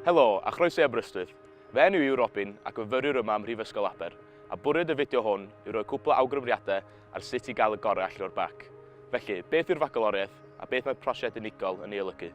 Helo, a chroeso i Aberystwyth. Fy enw i yw Robin ac yn fyfyriwr yma ym Mhrifysgol Aber, a bwriad y fideo hwn yw rhoi cwpl o awgrymiadau ar sut i gael y gorau allan o'r bac. Felly, beth yw'r Fagaloriaeth a beth mae'r prosiect unigol yn ei olygu?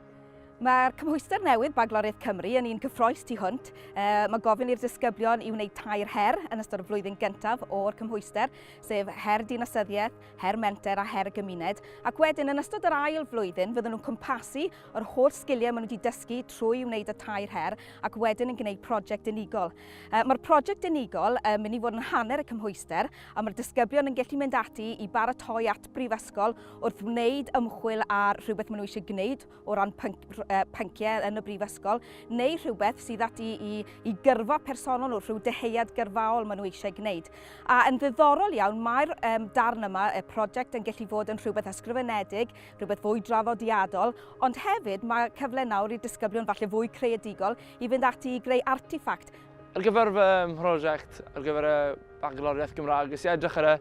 Mae'r cymhwyster newydd Bagloriaeth Cymru yn un cyffroes tu hwnt. E, mae gofyn i'r disgyblion i wneud tair her yn ystod y flwyddyn gyntaf o'r cymhwyster, sef her dinasyddiaeth, her menter a her y gymuned, ac wedyn yn ystod yr ail flwyddyn fydden nhw'n cwmpasu yr holl sgiliau maen nhw wedi dysgu trwy wneud y tair her ac wedyn yn gwneud prosiect unigol. Uh, Mae'r prosiect unigol yn uh, mynd i fod yn hanner y cymhwyster a mae'r disgyblion yn gallu mynd ati i baratoi at brifysgol wrth wneud ymchwil ar rhywbeth maen nhw eisiau gwneud o ran pynciau yn y brifysgol, neu rhywbeth sydd ati i, i gyrfa personol nhw, rhyw deheuad gyrfaol maen nhw eisiau gwneud. A yn ddiddorol iawn, mae'r um, darn yma, y prosiect, yn gallu fod yn rhywbeth ysgrifenedig, rhywbeth fwy draddodiadol, ond hefyd mae cyfle nawr i disgyblion falle fwy creadigol i fynd ati i greu artifact Ar gyfer fy mhrosiect ar gyfer y Bagloriaeth Gymraeg, nes i edrych ar y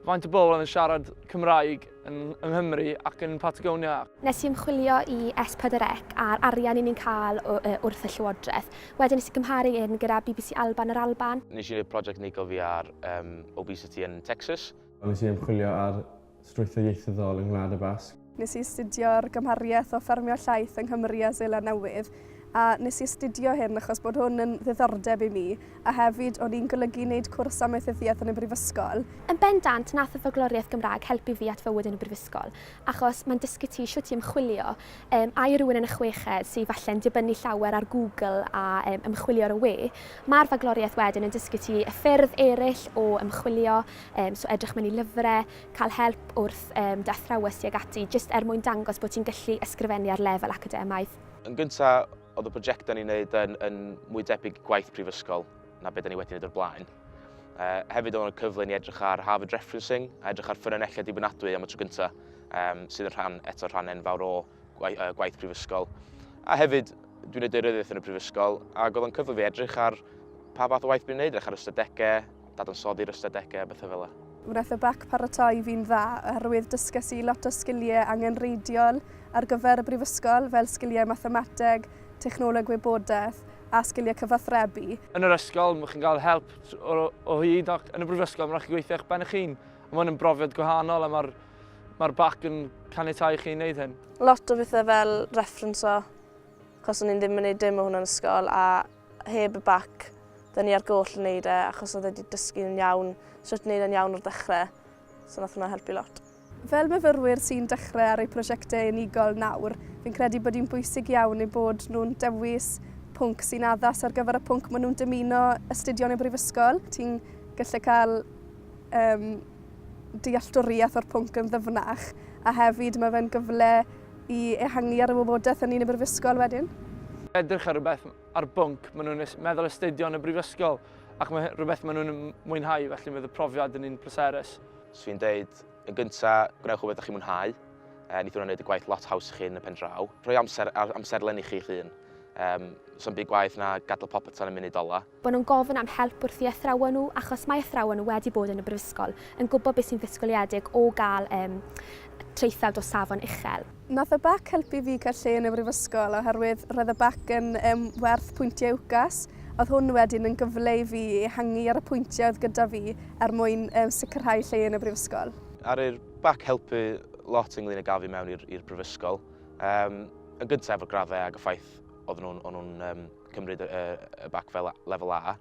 faint o bobl oedd yn siarad Cymraeg yn, yng Nghymru ac yn Patagonia. Nes i ymchwilio i S4C a'r arian i ni'n cael wrth y Llywodraeth. Wedyn nes i gymharu hyn gyda bbc Alban yr Alban. Nes i wneud prosiect unigol fi ar um, obesity yn Texas. Nes i ymchwilio ar strwythur ieithyddol yng Ngwlad y Basg. Nes i astudio'r gymhariaeth o ffermio llaeth yng Nghymru a Seland Newydd, a nes i astudio hyn achos bod hwn yn ddiddordeb i mi, a hefyd o'n i'n golygu neud cwrs amaethyddiaeth yn y brifysgol. Yn bendant, nath y Ffogloriaeth Gymraeg helpu fi at fywyd yn y brifysgol, achos mae'n dysgu ti shwt i ymchwilio, yym, a i rywun yn y chweched sy falle'n dibynnu llawer ar Google a yym, ymchwilio ar y we, ma'r Fagloriaeth wedyn yn dysgu ti y ffyrdd eryll o ymchwilio, Um, so edrych mewn i lyfrau, cael help wrth um, dy athrawes ti ag ati, jyst er mwyn dangos bod ti'n gallu ysgrifennu ar lefel academaidd. Yn gyntaf, oedd y prosiectau ni'n gwneud yn, yn mwy debyg gwaith prifysgol na beth ni wedi gwneud o'r blaen. Uh, hefyd oedd yn cyfle ni edrych ar Harvard Referencing a edrych ar ffynonellau dibynadwy am y tro gyntaf, um, sydd yn rhan eto rhan enfawr o gwaith prifysgol. A hefyd, dwi'n neud deiryddiaeth yn y prifysgol, ac oedd o'n cyfle fi edrych ar pa fath o waith dwi'n neud, edrych ar ystadegau, dadansoddi'r ystadegau, bethau fel yna. Wnaeth y bac paratoi fi'n dda oherwydd dysges i lot o sgiliau angenrheidiol ar gyfer y brifysgol fel sgiliau mathemateg, technoleg wybodaeth a sgiliau cyfathrebu. Yn yr ysgol, mae chi'n cael help o, o hyd ac yn y brifysgol, mae'n rhaid chi gweithio eich ben eich hun. Mae hwn yn brofiad gwahanol a mae'r Mae'r bac yn caniatau chi wneud hyn. Lot o bethau fel referenso, achos o'n i'n ddim yn gwneud dim o hwnna'n ysgol, a heb y bac, dyn ni ar goll yn gwneud e, achos oedd wedi dysgu'n iawn, sut wneud e'n iawn o'r dechrau, so nath hwnna helpu lot. Fel myfyrwyr sy'n dechrau ar eu prosiectau unigol nawr, fi'n credu bod hi'n bwysig iawn eu bod nhw'n dewis pwnc sy'n addas ar gyfer y pwnc maen nhw'n dymuno astudio yn y brifysgol. Ti'n gallu cael um, dealltwriaeth o'r pwnc yn ddyfnach, a hefyd mae fe'n gyfle i ehangu ar y wybodaeth yn un y brifysgol wedyn. Edrych ar rhywbeth ar bwnc, maen nhw'n meddwl astudio yn y brifysgol, ac mae rhywbeth maen nhw'n mwynhau, felly mae y profiad yn un pleserus. So fi'n dweud, yn gyntaf, gwnewch o beth ydych chi'n mwynhau, e, nid hwnna'n gwneud y gwaith lot haws chi'n y pen draw. Rhoi amser, amserlen i chi'ch hun. Um, So'n byd gwaith na gadael popeth tan y munud ola. Maen nhw'n gofyn am help wrth i athrawon nhw, achos mae athrawon nhw wedi bod yn y brifysgol, yn gwybod beth sy'n ddisgwyliedig o gael traethawd o safon uchel. Nath y bac helpu fi cael lle yn y brifysgol oherwydd roedd y bac yn werth pwyntiau UCAS, oedd hwn wedyn yn gyfle i fi ehangu ar y pwyntiau oedd gyda fi er mwyn sicrhau lle yn y brifysgol. A'r i'r bac helpu lot ynglŷn ag afu mewn i'r i'r brifysgol, yn gynta' efo'r graddau ag y ffaith oedden nhw'n cymryd y, y, y bac fel lefel A.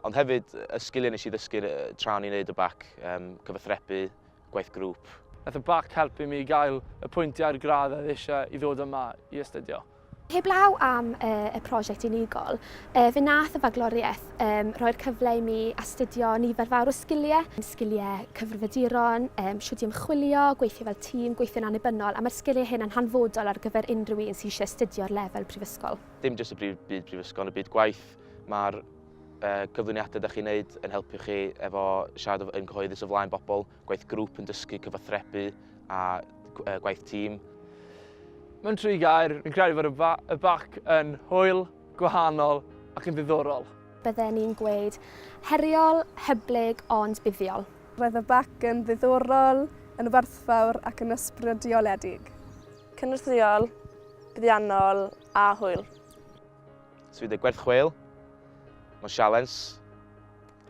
Ond hefyd, y sgiliau nes i ddysgu tra o'n i'n neud y bac, um, cyfathrebu, gwaith grŵp. Nath y bac helpu mi i gael y pwyntiau'r gradd oedd eisiau i ddod yma i astudio. Heblaw am uh, y prosiect unigol, uh, fe nath y fagloriaeth um, roi'r cyfle i mi astudio nifer fawr o sgiliau, sgiliau cyfrifiaduron, um, siwt i ymchwilio, gweithio fel tîm, gweithio'n annibynnol, a mae'r sgiliau hyn yn hanfodol ar gyfer unrhyw un sy'n eisiau astudio'r lefel prifysgol. Dim jyst y brif, byd prifysgol, y byd gwaith. Mae'r uh, cyflwyniadau ydych chi'n neud yn helpu chi efo siarad yn gyhoeddus o flaen bobl, gwaith grŵp yn dysgu cyfathrebu a uh, gwaith tîm. Mae'n tri gair, fi'n credu fod y, ba y bac yn hwyl, gwahanol ac yn ddiddorol. Bydden ni'n gweud heriol, hyblyg ond buddiol. Roedd y bac yn ddiddorol, yn werthfawr ac yn ysbrydoledig. Cynorthwyol, buddiannol a hwyl. Sydd wedi gwerth chweil, mae'n sialens,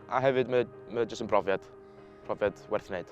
a hefyd mae, mae jyst yn brofiad, profiad werth wneud.